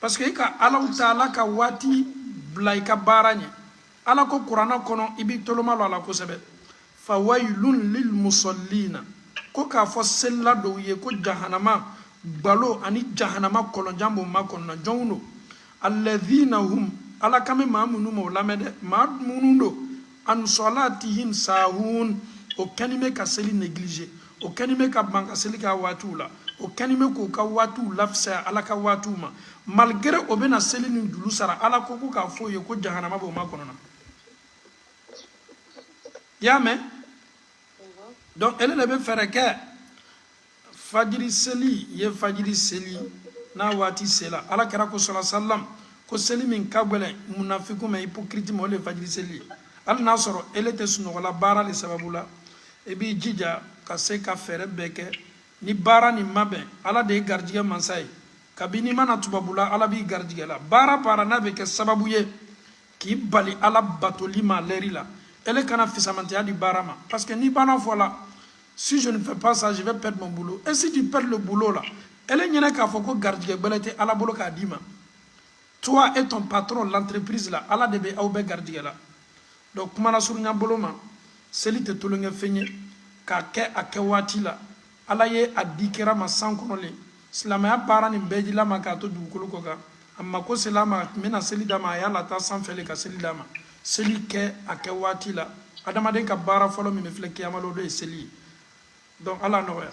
parce que i ka alahu taala ka waati bila i ka baara ɲɛ ala ko kurana kɔnɔ i b'i tolo malɔ a la kosɛbɛ fa wayilun lil musallina ko k'a fɔ selila dɔw ye ko jahanama gbalo ani jahanama kɔlɔnjan b'o makɔnɔna jɔnw lo alladhina hum ala kan bɛ maa minnu ma o lamɛn dɛ maa minnu don an salatihim sahun o kɛni bɛ ka seli négligé o kɛni bɛ ka ban ka seli k'a waatiw la o kɛni bɛ k'o ka waatiw lafisaya ala ka waatiw ma malgré o bɛna seli nin julu sara ala ko ko k'a f'o ye ko jahanama b'o makɔnɔna i y'a mɛn donc ele le bɛ fɛɛrɛ kɛ fajiri seli ye fajiri seli n'a waati sela ala kira ko salallahu alayhi wa salam ko seli min ka gbɛlɛn munafiku ma hypocrite ma o le fajiri seli ye hali n'a sɔrɔ ele tɛ sunɔgɔla baara le sababu la i b'i jija ka se ka fɛɛrɛ bɛɛ kɛ ni baara nin ma bɛn ala de garijigɛ mansa ye kabini i ma na tubabula ala b'i garijigɛla baara baara n'a bɛ kɛ sababu ye k'i bali ala batoli ma lɛri la ele kana fisamantiya di baara ma parce que n'i b'a fɔla si je ne fais pas ça je vais perdre mon boulot et si tu perds le boulot là ele ɲɛna k'a fɔ ko garijɛgɛ gbɛrɛ tɛ ala bolo k'a d'i ma toi et ton patron l'entreprise là ala de bɛ aw bɛɛ garijɛgɛla donc kuma nasurunya bolo ma seli tɛ tolonkɛ fɛn ye k'a kɛ a kɛ waati la ala ye a di kira ma san kɔnɔ le silamaya baara nin bɛɛ jila a ma k'a to dugukolo kɔ kan amma ko sela a ma a bɛna seli d'a ma a y'a lata sanfɛ le ka seli d'a ma seli kɛ a kɛ waati la adamaden ka baara fɔlɔ min bɛ filɛ kiyama lon o de ye seli ye donc ala nɔgɔya